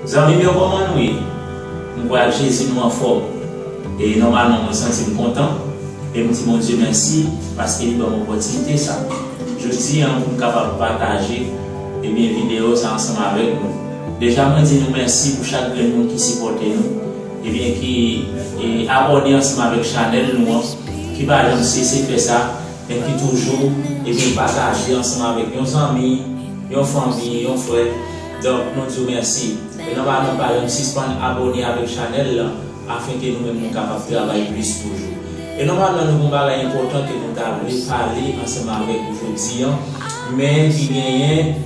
Zanmim yo koman nou ye m kwè ak jezi nou anfòm e nòmalman mwen santim kontan e m di Bondye mèsi paske li banm opòtinite sa jodi an poum kapab pataje ebyen videyo sa ansanm avèk nou deja mwen di nou mèsi pou chak grenn moun ki sipòte nou. Ebyen ki abòne ansanm avèk chanèl nou an, ki pa janm sese fè sa, men ki toujou ebyen pataje ansanm avèk yon zanmi, yon fanmi, yon frè, donk nou diw mèsi. E nòmal nou pa janm sispann abòne avèk chanèl lan afin ke nou menm nou kapab travay plis toujou. E nòmalman nou gon bagay enpòtan ke nou ta vle pale ansanm avèk ou jodi an, men ki genyen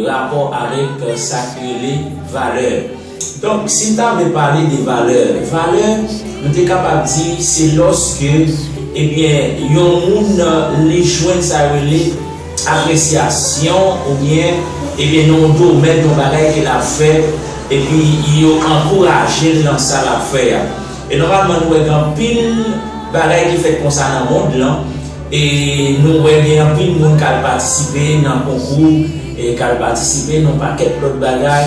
rapò avèk sa ki rele valè. Donk, si m ta vle pale de valè, valè, m te kapab di, se lòske, ebyen, yon moun li jwenn sa yo rele apresyasyon oubyen, ebyen, nan yon domèn, yon bagay ke l ap fè, epi yo ankouraje l nan sa l ap fè a. E nòmalman nou wè gen anpil bagay ki fèt konsa nan mond lan, e nou wè gen anpil moun k al patisipe nan konkou, k al patisipe nan yon pakèt lòt bagay,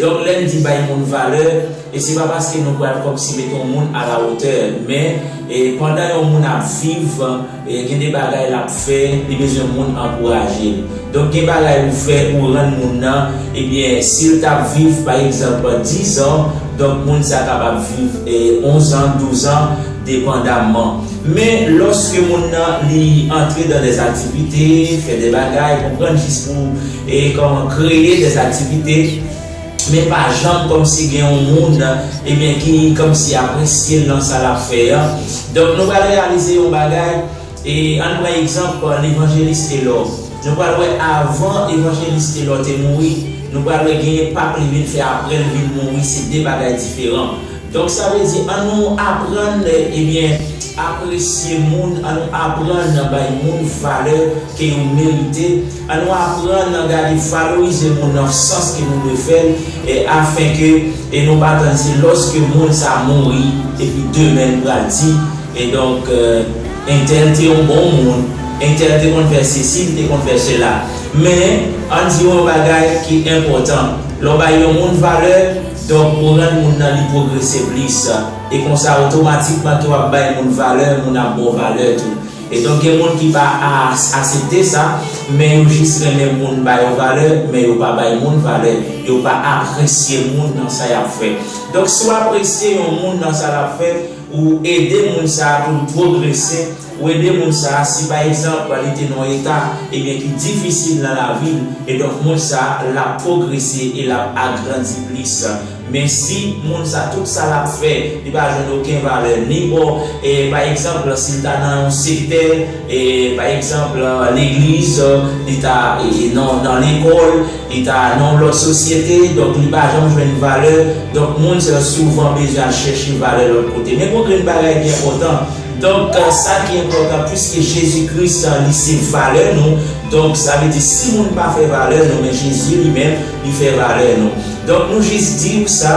Donk lè n di bay moun valè, se pa paske nou pral kòmsi met on moun a la wotè men pandan yon moun ap viv gen de bagay l ap fè li bezwen moun ankouraje l. Donk gen bagay ou fè ou rann moun nan ebyen si l t ap viv pa egzanp dizan donk moun sa kapab viv onzan, douzan depandamman. Men lòske moun nan li antre dan dè aktivite, fè dè bagay konprann jis pou E kòman kreye des activités men pa janm kòmsi gen yon moun ebyen ki kòmsi apresye l nan sa l ap fè an. Donk nou pral reyalize yon bagay e ann pran egzanp Levanjelis Telò. Nou pral wè avan Evanjelis Telò te mouri, nou pral wè genyen pap li vin fè aprè l vin mouri se 2 bagay diferan. Donk sa vle di an nou aprann ebyen apresye moun, an nou aprann bay moun valè ke yo merite. An nou aprann nan gade valorize moun nan sans ke nou dwe fèl e afen ke e nou pa tann se lòske moun sa mouri epi demen nou pral di e donk entèl te yon bon moun, entèl te konn fè sesi li te konn fè sela. Men an di yon bagay ki enpòtan, lè w bay yon moun valè donk ou rann moun nan li pwogrese plis e konsa otomatikman ke w ap bay moun valè moun ap ba w valè tou. E donk gen moun ki pa aas asepte sa, men yo jis renmen moun ba yo valè, men yo pa bay moun valè, yo pa apresye moun nan sa yap fè. Donk si w apresye yon moun nan sa lap fè, ou ede moun sa a pou l pwogrese, ou ede moun sa a si pa egzanp li te nan yon eta ebyen ki difisil nan lavi l, e donk moun sa a lap pwogrese e lap agrandi plis Men si moun sa tout sa lap fè li pa jwenn oken valè ni bò pa egzanp si l ta nan yon sektè pa egzanp legliz li ta nan lekòl li ta nan yon lòt sosyete donk li pa janm jwenn valè donk moun sa yo souvan bezwen al chèche valè lòt kote men gon grenn bagay ki enpòtan donk sa ki enpòtan piske Jezi Kris li se valè nou donk sa vle di si moun pa fè valè nou men Jezi li menm Li fè valè nou. Donk nou jis di ou sa,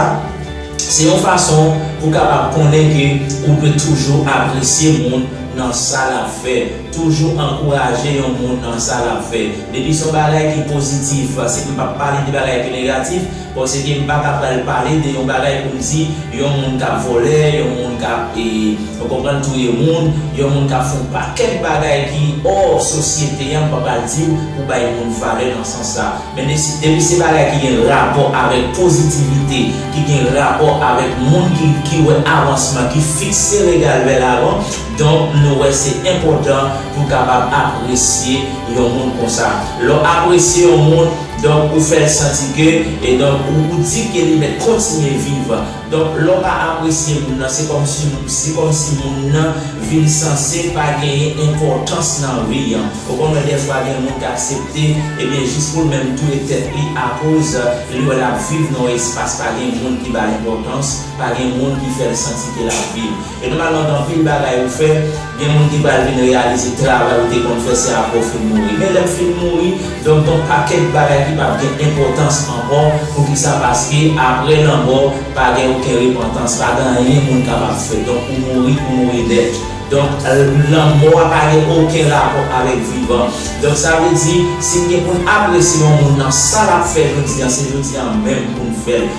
se yon fason pou kapab konnen ke ou dwe toujou apresye moun nan sa lap fè, toujou ankouraje yon moun nan sa lap fè. Depi son bagay ki pozitif, se m pap pale de bagay ki negatif, paske m paka pral pale de yon bagay pou m di yon moun kap vòlè, yon moun kap e ou konprann touye moun, yon moun kap fè yon pakèt bagay ki or sosyete an m pa pral diw pou bay moun valè nan sans sa. Mennesi, depi se bagay ki gen rapò avèk pozitivite, ki gen rapò avèk moun ki ki wè avansman, ki fikse regal vè lavan, donk nou wè se enpòtan pou n kapab apresye yon moun konsa. Lè w apresye yon moun, donk ou fè l santi ke, e donk ou di ke li mèt kontinye viv. Donk lè w pa apresye moun nan se kòmsi se kòmsi moun nan vin sanse pa genyen enpòtans nan vi an. Ou konn wè dèfwa gen moun k aksepte ebyen jis pou l menm touye tèt li akoz li wè l ap viv nan yon espas pa gen moun ki ba l enpòtans, pa gen moun ki fè l santi ke l ap viv. E nou pa gen anpil anpil bagay ou fè, gen moun ki pral vin reyalize travay ou te konn fè se aprè ou fin mouri. Men lèm fin mouri, donk gon pakèt bagay ki pap gen enpòtans ankò, poukisa paske aprè lanmò pa gen oken repantans, pa gen anyen moun kapab fè, donk ou mouri, ou mouri nèt. Donk lanmò a pa gen oken rapò avèk vivan. Donk sa vle di, si n gen pou n apresye yon moun nan sa lap fè jodi an, se jodi an menm pou n fè l.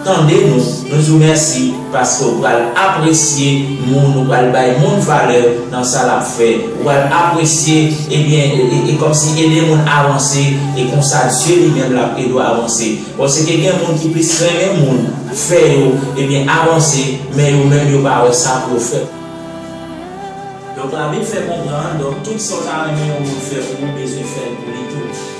Tande nou, nou di w mèsi paske ou pral apresye moun, ou pral bay moun valè nan sa l ap fè, ou pral apresye ebyen e kòmsi ede moun avanse e konsa Dye li menm l ap ede w avanse. Bon se ke gen moun ki plis renmen moun fè yo ebyen avanse men yo menm yo pa wè sa pou yo fè. Donk labib fè konprann donk tout sa w ta renmen yon moun fè pou ou bezwen fè l pou li tou.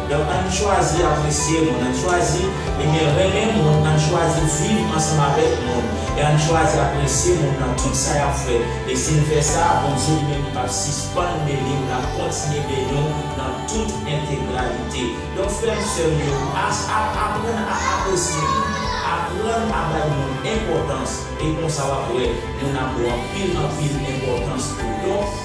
Donk ann chwazi apresye moun, ann chwazi ebyen renmen moun, ann chwazi viv ansanm avèk moun, e ann chwazi apresye moun nan tout sa y ap fè. E si n fè sa, Bondye li menm li pap sispann beni nou, l ap kontinye beni w nan tout entegralite. Donk frè m, sè m yo, aprann a apresye moun, aprann a bay moun enpòtans, e konsa w ap wè moun ap gen anpil anpil enpòtans pou w. Donk.